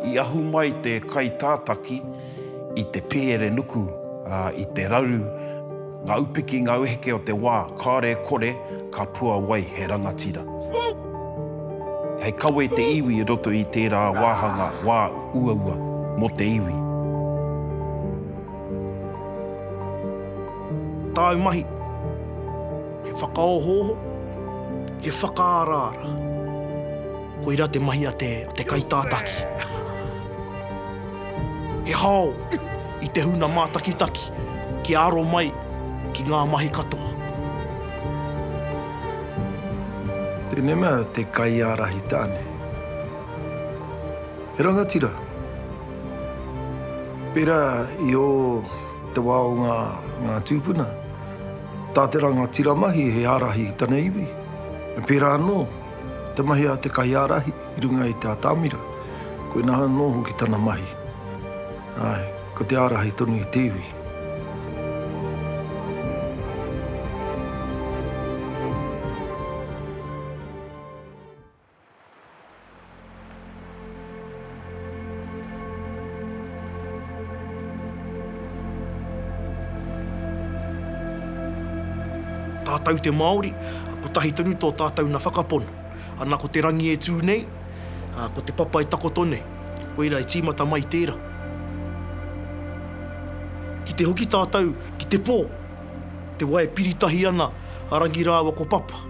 I ahu mai te kaitātaki i te pēere nuku, ā, i te raru ngā upiki, ngā uheke o te wā, kāore e kore, ka puawai he rangatira. Hei kawe te iwi i roto i tērā wāhanga wā uaua mō te iwi. Tāu mahi, he whakaohooho, he whakaaraara. Koirā te mahi a te kaitātaki. He hao i te huna mātakitaki kia aro mai ki ngā mahi katoa. Tēnei mea te kaiārahi tāne. He rangatira, pērā i ō. Te wā o ngā tūpuna. Tā te rangatira mahi he ārahi i tana iwi. Pērā anō, te mahi a te kaiārahi i runga i te atamira, koinā anō hoki tana mahi. Āe, ko te ārahi tonu i te iwi. Tātou te Māori, kotahi tonu tō tātou na whakapono. Ana ko te rangi e tū nei, a, ko te papa e takoto nei. Koira e tīmata mai tēra. Ki te hoki tātou ki te pō. te wai e piri tahi ana a Rangi rāua ko Papa,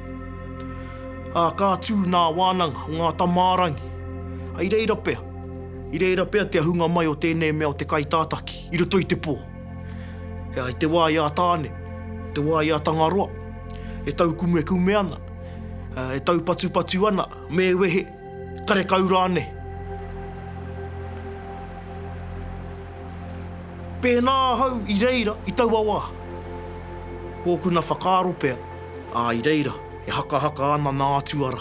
ā, ka tū nā wānanga o ngā tamārangi, ā, i reira pea, i reira pea te ahunga mai o tēnei mea o te kaitātaki i roto i te pō. E ai te wā i a Tāne, te wā i a Tangaroa, e taukumekume ana, e taupatupatu ana, me wehe, Karekau rānei. Pēnā ahau i reira i taua wā, kōkuna whakaaro pea, ā, i reira e hakahaka ana nā Atua rā.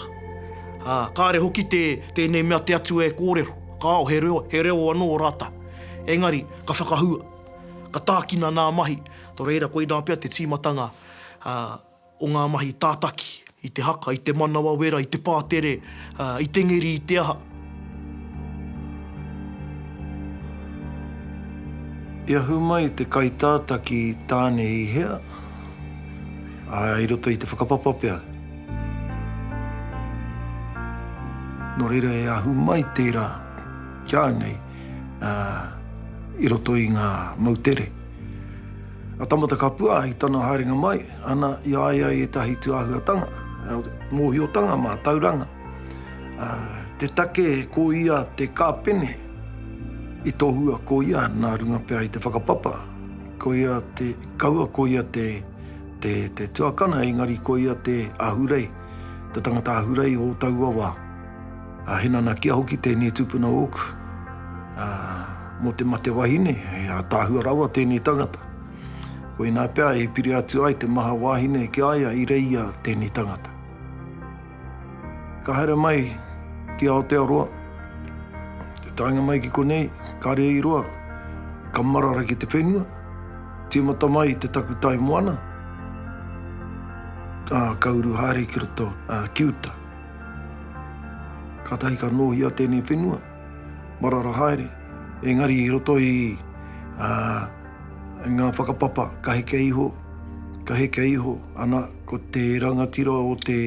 Ā, kāre hoki tē, tēnei mea te Atua e kōrero, kāo, he reo, he reo anō ō rātou. Engari, ka whakahua, ka tākina nā mahi, tō reira koinā pea te tīmatanga, ā, o ngā mahi tātaki i te haka, i te manawa wera, i te pātere, i te ngeri, i te aha. I ahu mai te kaitātaki tāne i hea, ā, i roto i te whakapapa pea. Nō reira e ahu mai tērā ki a nei, ā, i roto i ngā moutere. A Tamatakapua i tana haerenga mai, Ana i a ia ētahi tūāhuatanga, mōhiotanga mātauranga, te take ko ia te kāpene i tohua ko ia nā runga pea i te whakapapa, ko ia te kaua, ko ia te tuakana, engari ko ia te ahurei, te tangata ahurei o taua wā. He nanakia hoki tēnei tupuna ōku mō te mate wahine, he ātaahua rawa tēnei tangata. Koinā pea e piri atu ai te maha wāhine ki a ia i reia tēnei tangata. Ka haere mai ki Aotearoa, te taenga mai ki konei, kare i roa, ka marara ki te whenua, tīmata mai te takutai moana, ā, ka uru haere ki roto, ā, ki uta. Kātahi ka nōhia tēnei whenua, marara haere, engari i roto i, ā, Ngā whakapapa ka heke iho, ka heke iho, ana, ko te rangatira o te,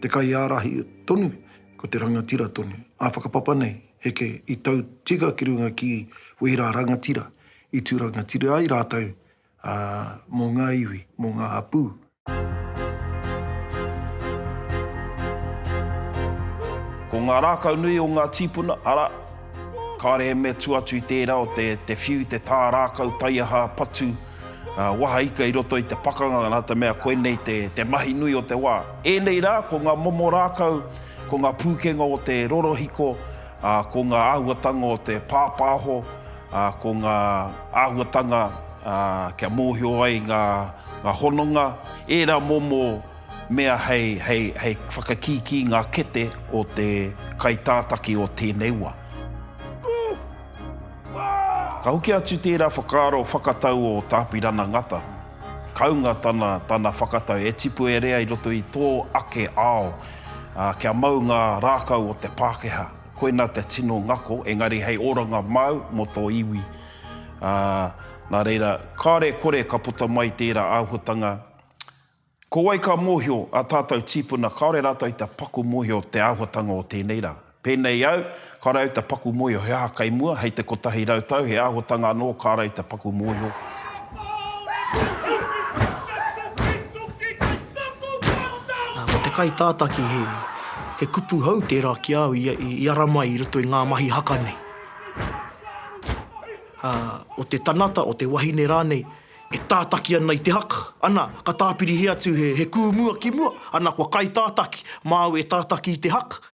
te kaiārahi tonu, ko te rangatira tonu. Ngā whakapapa nei, heke i tau tika ki runga ki wērā rangatira i tū rangatira ai rātou, ā, mō ngā iwi, mō ngā hapū. Ko ngā rākau nui o ngā tīpuna, arā, kāore he mea tua atu i tērā o te, te whiu, te tā rākau, taiaha, patu, waha ika i roto i te pakanga, nā te mea koinei te, te mahi nui o te wā. Ēnei rā, ko ngā momo rākau, ko ngā pūkenga o te rorohiko, ā, ko ngā āhuatanga o te pāpāho, ā, ko ngā āhuatanga kia mōhio ai ngā hononga, ērā momo mea hei whakakīkī i ngā kete o te kaitātaki o tēnei wā. Ka hoki atu tērā whakaaro whakatau o Tā Apirana Ngata, kāunga tana whakatau e tipu e rea i roto i tō ake ao kia mau ngā rākau o te Pākehā. Koina te tino ngako, engari hei oranga māu mō tō iwi. Ā, nā reira, kāore e kore ka puta mai tērā āhuatanga. Ko wai ka mōhio ā tātou tīpuna kāore rātou i te paku mōhio te āhuatanga o tēnei rā? Pēnei au, kāore au i te paku mōhio he aha kei mua, hei te kotahi rau tau, he āhuatanga anō kā rau i te paku mōhio. Ko te kaitātaki, he kupu hou tērā ki a au i ara mai i roto i ngā mahi haka nei. O te tangata, o te wahine rānei, e tātaki ana i te haka, ana, ka tāpirihia atu he kūmua ki mua, ana, kua kaitātaki, māu e tātaki i te haka.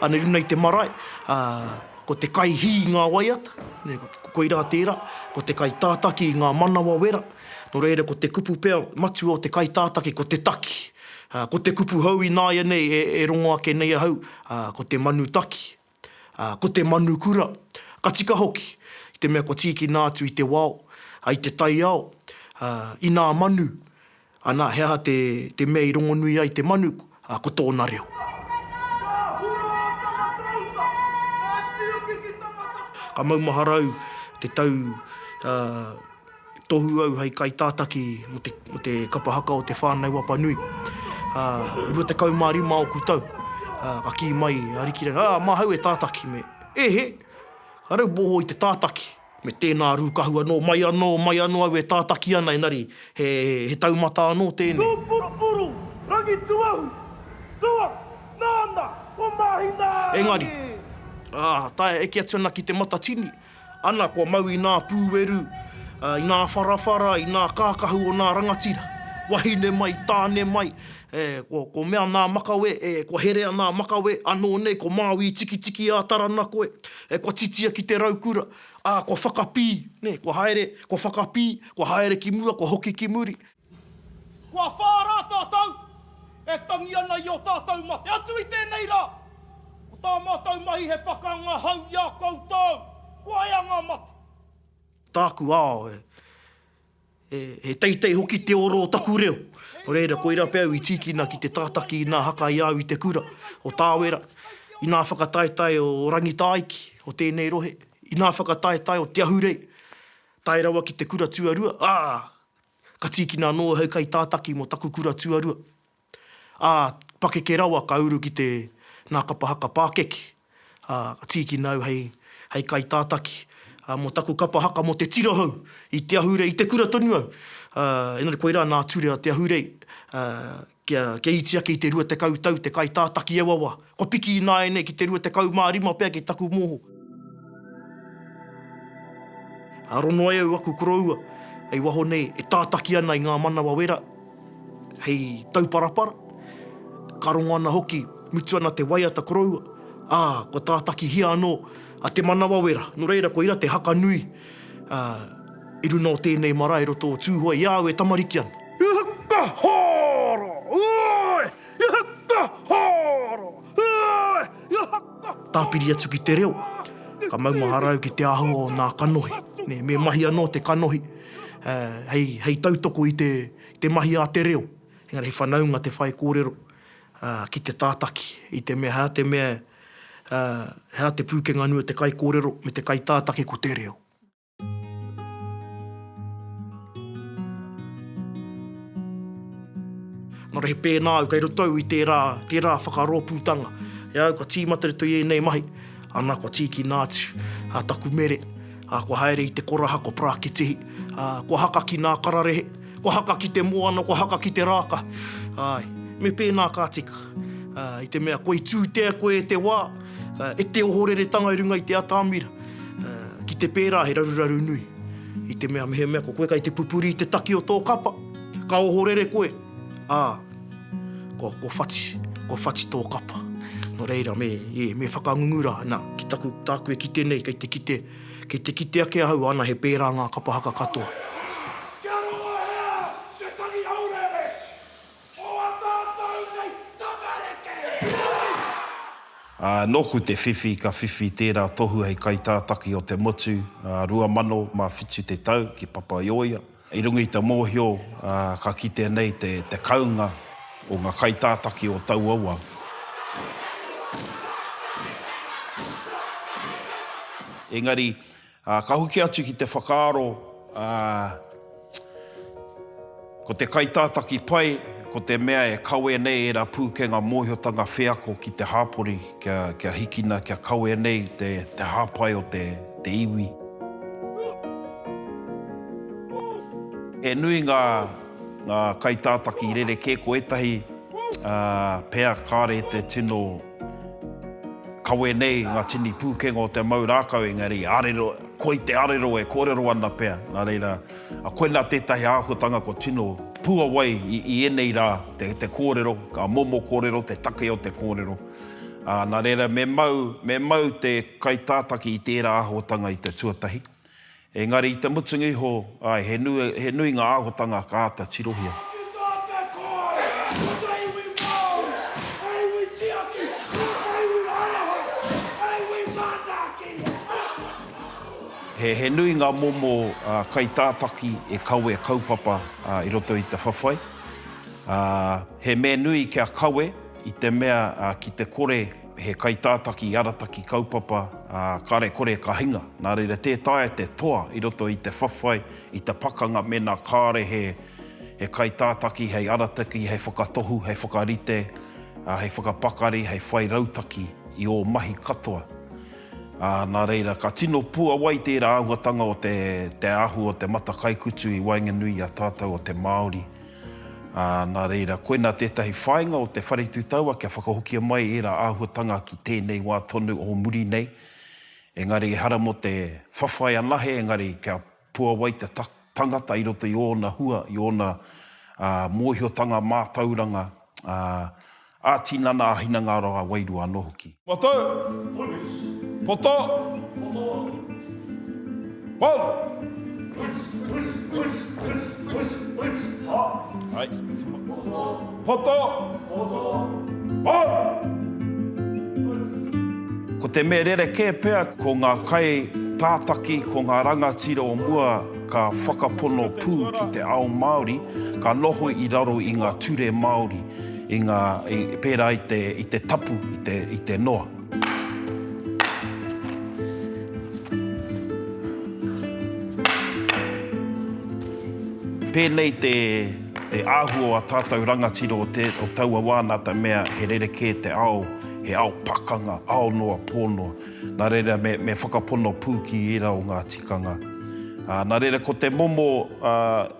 Anei runei te marae, ko te kai hī ngā waiata, koirā tērā, ko te kai tātaki ngā manawa wera, nō reira ko te kupu pea matua o te kai tātaki ko te taki. Ko te kupu hou ināianei e rongo ake nei ahau, ko te manu taki, ko te manu kura, ka tika hoki, i te mea kua tīkina atu i te wao, i te taiao, inā manu, ana, he aha te mea i rongonui ai te manu, ko tōna reo. Ka maumahara au te tau Tohu au hei kaitātaki mō te kapa haka o te Whānau Wapa Nui. Ā, rua tekau mā rima ōku tau, ā, ka kī mai a Arikirau, Ā, māhau e tātaki, me, E he! Ka rauboho i te tātaki, me tēnā rūkahu anō, mai anō, mai anō au e tātaki ana, engari he, he taumata anō tēnei. Tō purupuru, Rangituahu, Tua, nāna, ko Māhina! Engari, ā, taea eke atu ana ki te Matatini, Ana kua mau i nā pūeru, i nā wharawhara, i nā kākahu o nā rangatira. Wahine mai, tāne mai, ko mea nā makawe, kua herea nā makawe, anō nei ko Māui i tikitiki a Tarana koe, kua titia ki te raukura, ā, kua whakapī, nē, kua haere, kua whakapī, kua haere ki mua, kua hoki ki muri. Kua whā rā tātou e tangi ana i ō tātou mate. Atu i tēnei rā, ko tā mātou mahi he whakaanga hou i a koutou. Kua ea ngā mate. Tāku ao, he, he, he teitei hoki te oro o taku reo. Nō reira, koirā pea au i tīkina ki te tātaki inā haka i a au i te kura o Tāwera, inā whakataetae o Rangitāiki, o tēnei rohe, inā whakataetae o Te Ahurei, tae rawa ki te kura tuarua, ā, Ka tīkina anō ahau kai tātaki mō taku kura tuarua, ā, pakeke rawa ka uru ki te Nā Kapa Haka Pākeke, ā, ka tīkina au hei, hei kai tātaki, ā, mō taku kapa haka mō te tira hou i te ahurei, i te kura tonu au, ā, engari koirā nā Turea te ahurei, ā, Kia, kia iti ake i te rua tekau tau te kaitātaki auawa, kua piki ināianei ki te rua tekau mā rima pea ki taku moho. Aro noa au aku koroua hei waho nei e tātaki ana i ngā manawa wera hei tauparapara, ka rongo ana hoki, mutu ana te waiata koroua, ā, kua tātakihia anō a te manawa wera. Nō reira, koira te haka nui. Ā, i runga o tēnei marae roto o Tūhoe, i a au e tamariki ana. I whakahaoro! Oi! I whakahaoro! Oi! I whakahaoro! Tāpiri atu ki te reo, ka maumahara au ki te āhua o nā kanohi. Nē, me mahi anō te kanohi, ā, hei, hei tautoko i te, i te mahi a te reo. Engari he whanaunga te whaikōrero, ā, ki te tātaki, i te mea, hā te mea, ā, he aha te pūkenga nui o te kaikōrero me te kaitātaki ko te reo? Nō reira, pēnā au kei roto au i tērā, tērā whakarōpūtanga e au kua tīmata i roto i ēnei mahi, ana, kua tīkina atu taku mere, ā, kua haere i te koraha, kua parakitihi, ā, kua haka ki ngā kararehe, Kua haka ki te moana, kua haka ki te rāka, āe, me pēnā ka tika, ā, i te mea koi tūtea koe e te wā, ā, e te ohoreretanga i runga i te atamira, ā, ki te pērā he raruraru nui, i te mea mehemea ko koe kei te pupuri i te taki o tō kapa, ka ohorere koe, ā, kua, kua whati, kua whati tō kapa. Nō reira, me, ē, me whakangungu rā, nā, ki taku, tāku e kite nei, kei te kite, Kei te kite ake ahau ana he pērā ngā kapa haka katoa. Kia rongo hea te tangi haureere o a tātou nei tamariki! Ā, nōku te whiwhi ka whiwhi tērā tohu hei kaitātaki o te motu, ā, 2007 te tau ki Papaioia. I runga i te mōhio ka kitea nei te kaunga o ngā kaitātaki o taua wā. Engari, ka hoki atu ki te whakaaro ko te kaitātaki pai ko te mea e kawe nei ērā pūkenga mōhiotanga wheako ki te hāpori. Kia hikina, kia kawea nei te hāpai o te iwi. He nui ngā kaitātaki rerekē, ko ētahi pea kāore i te tino kawe nei ngā tini pūkenga o te mau rākau, engari arero, koi te arero e kōrero ana pea, nā reira. A koinā tētahi āhuatanga kua tino puawai i ēnei rā, te kōrero, ka momo kōrero, te take o te kōrero. Nā reira, me mau, me mau te kaitātaki i tērā āhuatanga i te tuatahi. Engari i te mutunga iho, āe, he nui, he nui ngā āhuatanga ka āta tirohia. Hoki tō te kōrero ki te iwi Māori, te iwi tiaki, te iwi haere hou, te iwi manaaki. He nui ngā momo kaitātaki e kawea kaupapa i roto i te whawhai. He mea nui kia kawe i te mea ki te kore he kaitātaki i arataki kaupapa kare kore ka hinga. Nā reira tē taea te toa i roto i te whawhai, i te pakanga mēnā kāre he kaitātaki hei arataki, hei whakatohu, hei whakarite, hei whakapakari, hei whai rautaki i ō mahi katoa. Ā, nā reira, ka tino puawai tērā āhuatanga o te, te ahu o te matakaikutu i waenganui i a tātou o te Māori. Ā, nā reira, koinā tētahi whāinga o te Whare Tū Taua kia whakahokia mai ērā āhuatanga ki tēnei wā tonu o muri nei. Engari, ehara mō te whawhai anahe, engari kia. Puawai te tangata i roto i ōna hua, i ōna mōhiotanga, mātauranga, ā-tinana, ā-hinengaro, ā-wairua anō hoki. Poto! Poto! Poto! Poto! Poto! Poto! Poto! Ko te mea rerekē pea ko ngā kai tātaki, ko ngā rangatira o mua ka whakapono pū ki te ao Māori, ka noho i raro i ngā ture Māori, i ngā, pērā i te, i te tapu, i te, i te noa. Pēnei te. Te āhua o ā tātou rangatira o te, o taua wā nā te mea he rerekē te ao, he ao pakanga, ao noa, pō noa. Nā reira me, me whakapono pū ki ērā o ngā tikanga. Ā, nā reira ko te momo, ā,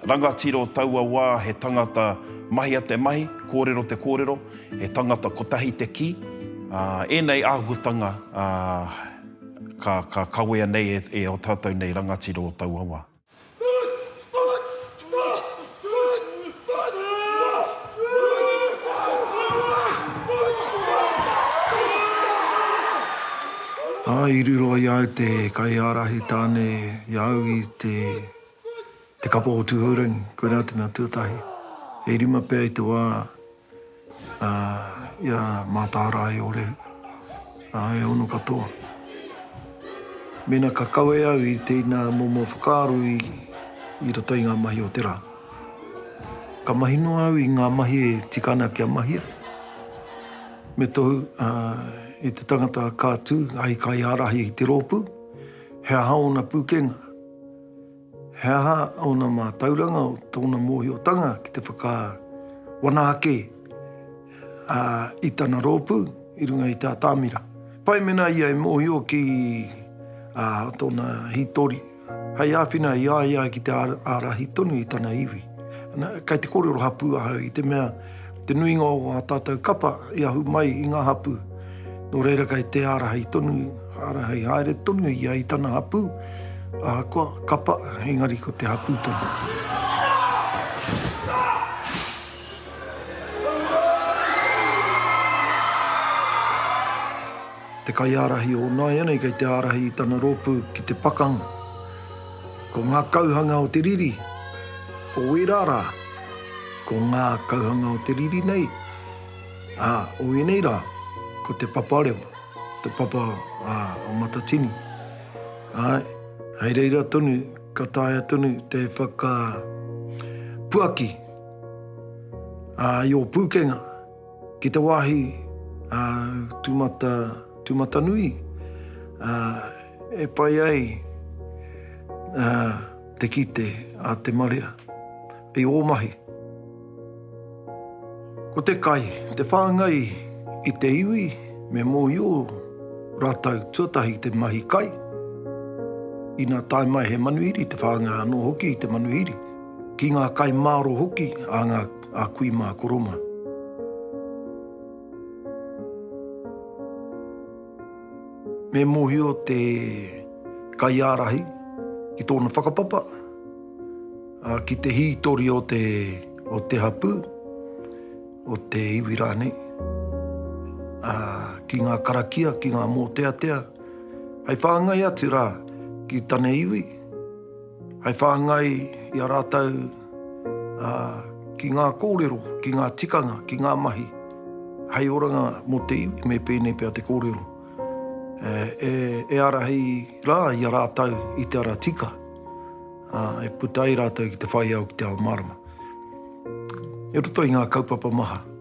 rangatira o taua wā he tangata mahia te mahi, kōrero te kōrero, he tangata kotahi te kī. Ā, ēnei āhuatanga, ā, ka, ka kawea nei e, e ō tātou nei rangatira o taua wā. Ā, i riro i a au te kaiārahi tāne i a au i te, te kapa o Tūhourangi, koirā te mea tuatahi. E rima pea i te wā I a Mātārae i ore, ā, e ono katoa. Mēnā ka kawe au i tēnā momo whakaaro i roto i ngā mahi o te rā, ka mahi noa au i ngā mahi e tika ana kia mahia, me tohu e te tangata ka tū hei kaiārahi i te rōpū, he aha ōna pūkenga. He aha ōna mātauranga o tōna mōhiotanga ki te whakawana ake i tana rōpū i runga i te atamira? Pai mēnā ia e mōhio ki tōna hītori hei āwhina i a ia ki te ārahi tonu i tana iwi. Kei te kōrero hapū ahau i te mea. Te nuinga o ā tātou kapa i ahu mai i ngā hapū, nō reira kei te ārahei tonu, ārahei haere tonu ia i tana hapū, ahakoa kapa engari ko te hapū tonu. Te kaiārahi o nāianei kei te ārahi i tana rōpū ki te pakanga. Ko ngā kauhanga o te riri o ērā rā, ko ngā kauhanga o te riri nei o ēnei rā, ko te papa rewa, te papa o Matatini. Āe, hei reira tonu ka taea tonu te whakapuaki i ō pūkenga. Ki te wāhi a Tūmata, Tūmatanui, e pai ai te kite a te marea i ō mahi. Ko te kai, te whāngai i te iwi, me mōhio rātou tuatahi te mahi kai. Inā tae mai he manuhiri, te whāngai anō hoki i te manuhiri, ki ngā kai māro hoki a ngā. a kui mā koro mā. Me mōhio te kaiārahi ki tōna whakapapa, ki te hītori o te, o te hapū, o te iwi rānei, ki ngā karakia, ki ngā mōteatea, hei whāngai atu rā ki tana iwi. Hei whāngai i a rātou ki ngā kōrero, ki ngā tikanga, ki ngā mahi hei oranga mō te iwi, me pēnei pea te kōrero. E ārahi rā i a rātou i te ara tika, e puta ai rātou ki te whai ao, ki te ao mārama. I roto i ngā kaupapa maha.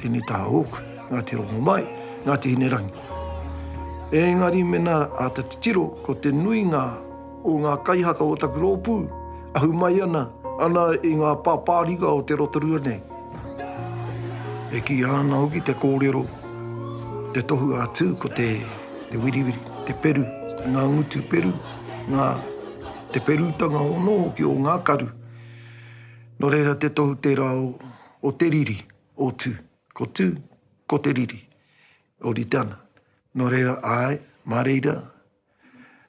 Tēnei taha ōku, Ngāti Rongomai, Ngāti Hinerangi. Ēngari mena āta titiro, ko te nuinga o ngā kaihaka o taku rōpū, ahu mai ana, ana i ngā pāpāringa o te Rotorua nei. E kīia ana hoki te kōrero, te tohu a Tū ko te, te wiriwiri, te peru, ngā ngutu peru, ngā, te perutanga ono hoki o ngā karu. Nō reira te tohu tērā o, O te riri, o tu. Ko tu, ko te riri. O rite ana. No reira, ae, ma reira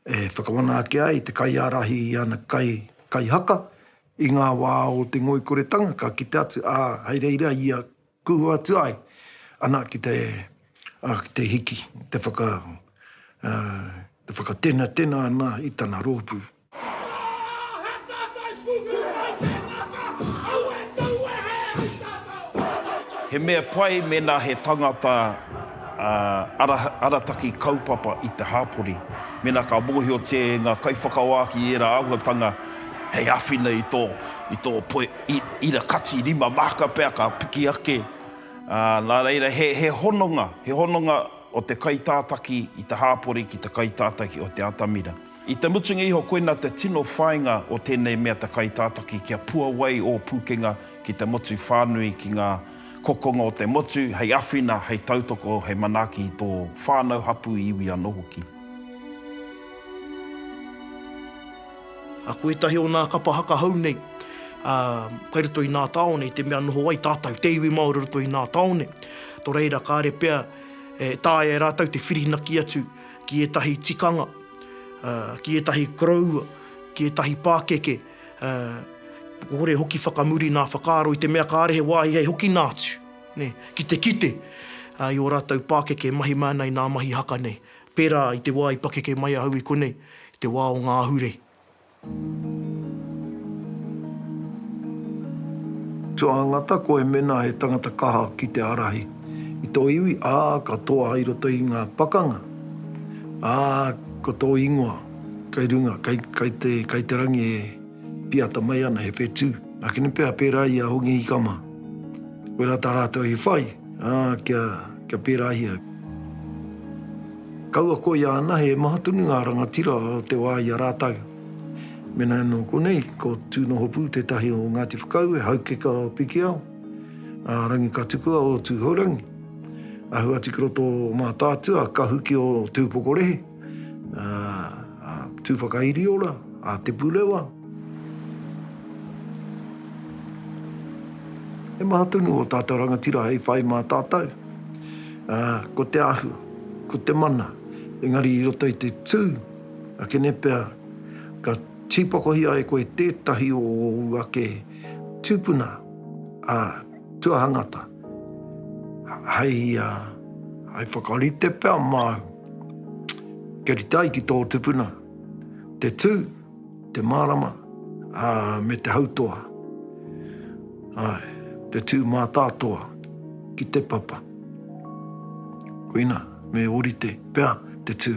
e whakawana ake ai te kaiarahi i ana kai, kai haka, i nga wa o te ngoikoretanga ka kite atu, a hei reira ia kuhu atu ai ana ki te, a, ki te hiki, te whaka, a, te whakatenatena ana i tana ropu. He mea pai mēnā he tangata arataki kaupapa i te hapori, mēnā ka mōhiotia e ngā kaiwhakawāki ērā āhuatanga hei āwhina i tō, i tō poe ira kati, rima māka pea ka piki ake. Nā reira, he, he hononga, he hononga o te kaitātaki i te hāpori ki te kaitātaki o te atamira. I te mutunga iho koina te tino whainga o tenei mea te kaitātaki kia puawai ō pukenga ki te motu whānui ki ngā kokonga o te motu hei awhina hei tautoko hei manaki i tō whānau hapu iwi ano hoki. Aku etahi o nā kapa haka hou nei, a, kai roto i nā taone i te mea noho ai tātau, te iwi Māori roto i nā taone, to reira kare pea e taea e rātau te whirinaki atu, ki ētahi tikanga, ki ētahi koroua, ki ētahi pākeke, kore hoki whakamuri nā whakaaro i te mea kāre he wāhi hei hokina atu, nē, ki te kite i ō rātou pākeke e mahi mai ana i nā mahi haka nei, pērā i te wā i pakeke mai ahau i konei, i te wā o ngā ahure. Tuangata koe mena he tangata kaha ki te arahi i to iwi a ka toa i roto i nga pakanga a ko to ingoa kei runga kei te rangi e piata mai ana he whetu. Na kini pea pera i a Hongi Hikama koira ta ratou i whai a kia perahia. Kaua koia anahe e maha tonu ngā rangatira o te wā i a rātou. Mēnā anō konei, ko Tūnohopū tētahi o Ngāti Whakaue, Haukeka o Pikiao, a Rangikatukua o Tūhourangi, ahu atu ki roto o Mātaatua, Kahuki o Te Upokorehe, a Tūwhakairiora, a Te Purewa. He maha tonu ō tātou rangatira hei whai mā tātou, ko te āhua. ko te mana, engari i roto i te tū a Kenepea, ka tīpakohia e koe tētahi o ōu ake tūpuna tuahangata, hei whakarite pea māu kia rite ai ki tō tupuna te tū. Te mārama, ā, me te hautoa. Āe, te tū mātātoa ki te papa. Koina, me ōrite pea te tū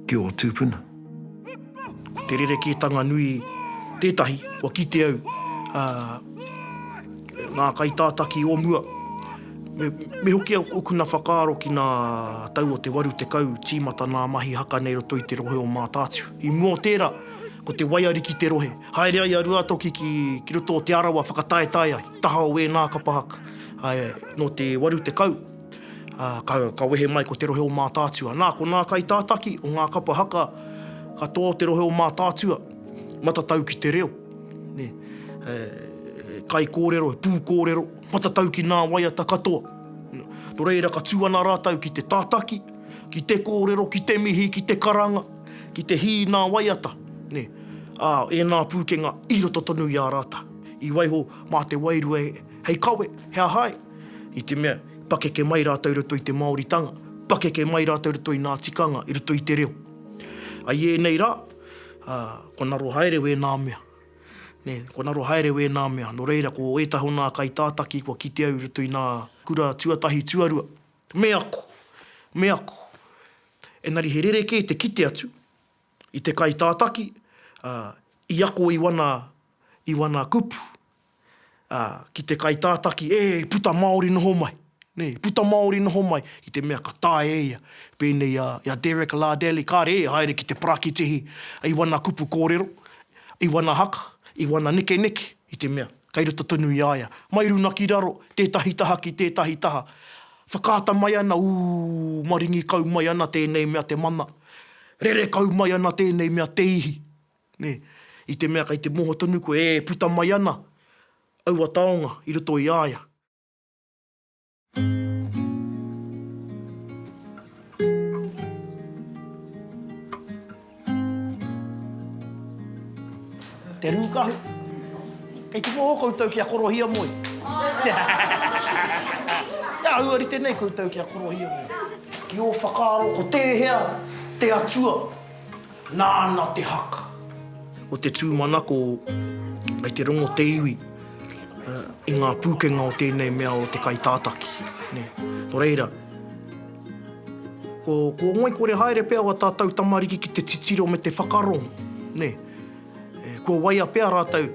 ki ō tūpuna. Ko te rerekētanga nui tētahi, kua kite au, ā. Ngā kaitātaki o mua. Me, me hoki au okuna whakaaro ki nā tau o te waru tekau tīmata nā mahi haka nei roto i te rohe o Mātātū. I mua o tērā, ko te waiari ki te rohe. Haere ai a Ruatoki ki, ki roto o Te Arawa whakataetae ai, taha o ēnā kapa haka. Ā, nō te waru tekau, ā, ka, ka wehe mai ko te rohe o Mātātū. Anā, ko nā kaitātaki o ngā kapa haka katoa o te rohe o Mātātua, matatau ki te reo. Nē, he kaikōrero, he pūkōrero, matatau ki nā waiata katoa. Nō reira, ka tū ana rātou ki te tātaki, ki te kōrero, ki te mihi, ki te karanga, ki te hī i nā waiata, nē, ā, ēnā pūkenga i roto tonu i a rātou. I waiho mā te wairua hei kawe, he aha ai? I te mea, i pakeke mai rātou i roto i te Māoritanga, pakeke mai rātou i roto i nā tikanga, i roto i te reo. I ēnei rā, ā, kua ngaro haere wēnā mea. Nē, kua ngaro haere wēnā mea. Nō reira, ko ētahi o nā kaitātaki kua kitea i roto i nā kura tuatahi, tuarua, me ako, me ako. Engari he rerekē te kite atu i te kaitātaki, ā, i ako i wana, i wana kupu. ā, ki te kaitātaki, ē, puta māori noho mai, nē, puta māori noho mai, i te mea ka taea e ia, pēnei i a, i a Derek Lardelli, kāre e haere ki te parakitihi i wana kupu kōrero, i wana haka, i wana nekeneke, i te mea, kei roto tonu i a ia, mai runga ki raro, tētahi taha ki tētahi taha, whakaata mai ana, ū, maringi kau mai ana tēnei mea te mana, rere kau mai ana tēnei mea te ihi. Me, i te mea kei te moho tonu koe e puta mai ana aua taonga i roto i a ia. Te Rūkahu, kei te moho koutou kia korohia moe. He āhua rite nei koutou kia korohia moe. Ki ō whakaaro ko tēhea te Atua? Nāna te haka. O te tūmanako kei te rongo te iwi i ngā pūkenga o tēnei mea o te kaitātaki. Nō reira, kua ngoikore haere pea o a tātou tamariki ki te titiro me te whakarongo. Kua waia pea rātou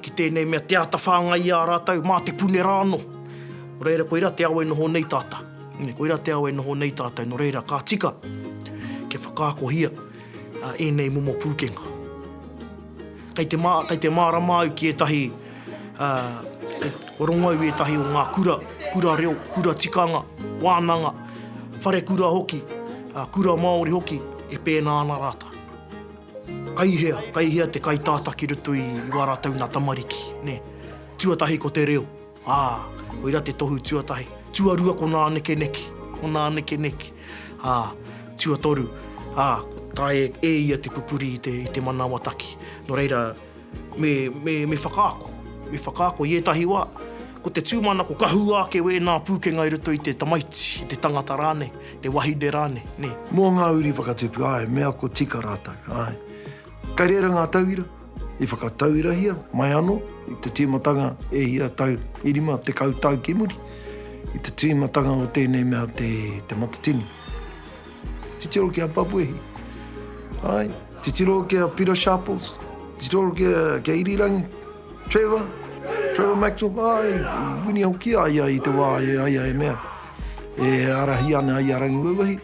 ki tēnei mea te āta whāngai i a rātou mā te pune rā anō. Nō reira, koirā te ao e noho nei tātou. Koirā te ao e noho nei tātou, nō reira, ka tika kia whakaakohia ēnei momo pūkenga. Kei te, kei te mārama au ki ētahi, kua rongo au i ētahi o ngā kura, kura reo, kura tikanga, wānanga, wharekura hoki, kura Māori hoki, e pēnā ana rātou. Kai hea, kai hea te kaitātā ki roto i wā rātou nā tamariki, nē? Tuatahi ko te reo, ā, koirā te tohu tuatahi. Tuarua ko nā nekeneke, ko nā nekeneke, ā, tuatoru, ā, ko tae e ia te pupuri i te manawa taki. Nō reira. Me, me, me whakaako. Me whakaako i ētahi wā. Ko te tūmanako ka hua ake wēnā pūkenga i roto i te tamaiti, i te tangata rānei, te wahine rānei, nē. Mō ngā uri whakatipu, āe, me ako tika rātou, āe. Kei reira ngā tauira i whakatauirahia mai anō i te tīmatanga e ia tau i rima tekau tau ki muri, i te tīmatanga o tēnei mea te, te Matatini. Titiro ki a Papuehi. Ae, titiro ki a Pita Sharples, titiro ki a Irirangi, Trevor, Trevor Maxwell, ae, i wini hoki a ia i te wa i a ia e mea, e arahi ana i a Rangiwauwahi.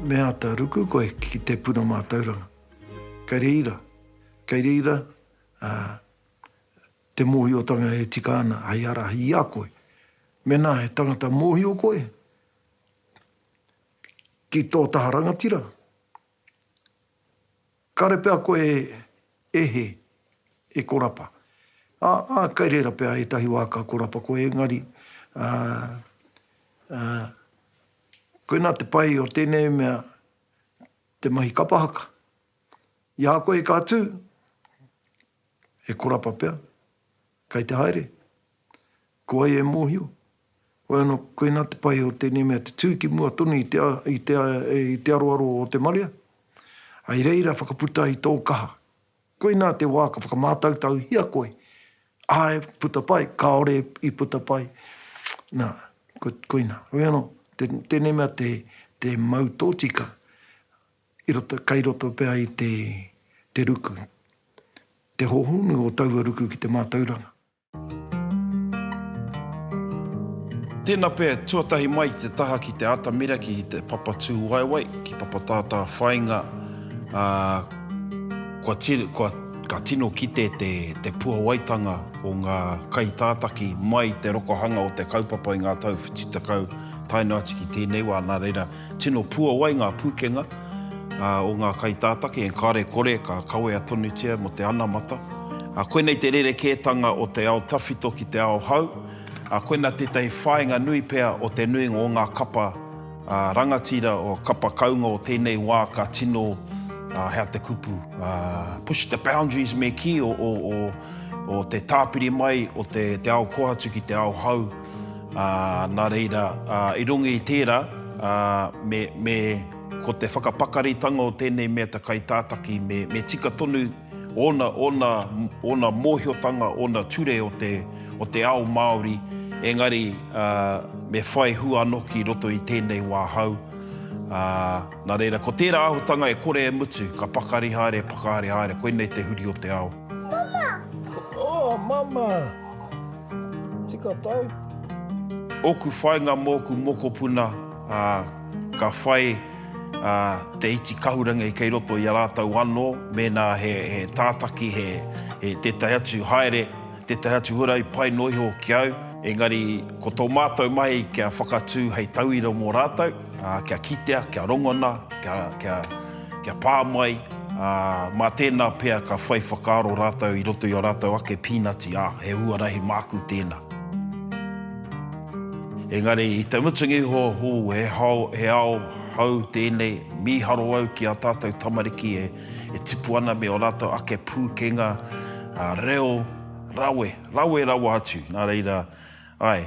Me ata ruku koe ki te puna matauranga. Kei reira, kei reira te mohiotanga e tika ana hei arahi i a koe. Mena he tangata mohio koe, ki tō taha rangatira? Kāre pea koe e hē, e korapa. Ā, ā, kai reira pea ētahi wā ka korapa koe, engari, ā, ā, koinā te pai o tēnei mea te mahi kapa haka. I a koe ka tū, he korapa pea. Kei te haere? Ko wai e mōhio? Wai anō, koinā te pai o tēnei mea te tū ki mua tonu i te i te i te aroaro o te marea, hai reira whakaputa ai tō kaha. Koinā te wā ka whakamātautauhia koe, āe, puta pai, kāore i puta pai, nā, ko, koinā. Wai anō, tēnei mea te, te mau tōtika, I roto, kei roto pea i te, te ruku. Te hōhonu o taua ruku ki te mātauranga. Tēnā pea, tuatahi mai i te taha ki te atamira ki te papa tūwaewae, ki papa tātā whāinga, ā, kua tino, kua, ka tino kite te, te puawaitanga o ngā kaitātaki mai i te rokohanga o te kaupapa i ngā tau whitu tekau tae noa atu ki tēnei wā, nā reira, Tino puawai ngā pūkenga o ngā kaitātaki, engkare kore ka kawea tonutia mō te anamata. Koinei te rerekētanga o te ao tawhito ki te ao hau. Koinā tētahi whāinga nui pea o te nuinga o ngā kapa rangatira, kapa kaunga o tēnei wā ka tino, hea te kupu, push the boundaries me kī, o te tāpiri mai o te ao kohatu ki te ao hau. Ā, nā reira, ā, i runga i tērā, ā, me, me, ko te whakapakaritanga o tēnei mea te kaitātaki, me, me tika tonu ōna, ōna, ōna mōhiotanga, ōna ture o te, o te ao Māori, engari, ā, me whai hua anō ki roto i tēnei wā hou. Ā, nā reira, ko tērā āhutanga e kore e mutu, ka pakari haere, e whakahaere haere, koinei te huri o te ao. Mama! Oh, Mama! Tika tau. Oku whainga moku mokopuna a ka whai a te iti kahurangi kei roto i a ratou ano mena he he tataki he he tetahi atu haere tetahi atu huarahi pai no iho ki au engari ko to matou mahi kia whakatu hei tauira mo ratou a kia kitea kia rongona kia kia Kia pā mai, ā, mā tēnā pea ka whai whakaaro rātou i roto i ō rātou ake pīnati, ā, he huarahi māku tēnā. Engari, i te mutunga iho, ū, he hao, he ao hou tēnei, mīharo au ki ā tātou tamariki e, e tipu ana me ō rātou ake pūkenga, ā, reo, rawe, rawe rawa atu, nā reira, āe,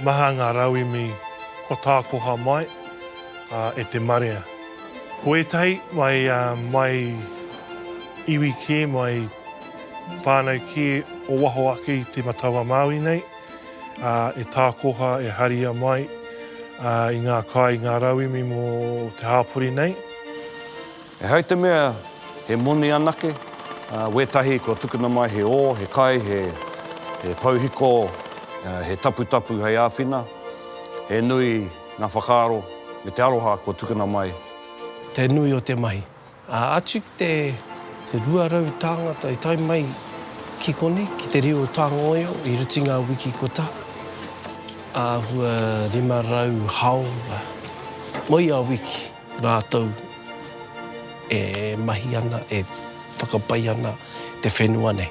Maha ngā rauemi kua tākoha mai e te marea. Ko ētahi mai, mai iwi kē, mai whānau kē o waho ake i Te Matau-a-Māui nei, e tākoha, e haria mai i ngā kai, ngā rauemi mō te hāpori nei. Ehai te mea he moni anake, ā, wētahi kua tukuna mai he ō, he kai, he pouhiko, he taputapu hei āwhina, he nui ngā whakaaro me te aroha kua tukuna mai. Te nui o te mahi. Ā, atu ki te 200 tāngata i tae mai ki konei, ki te reo tāngoio i ruti ngā wiki kotā, āhua 500 hāora moi a wiki. Rātou e mahi ana, e whakapai ana te whenua nei.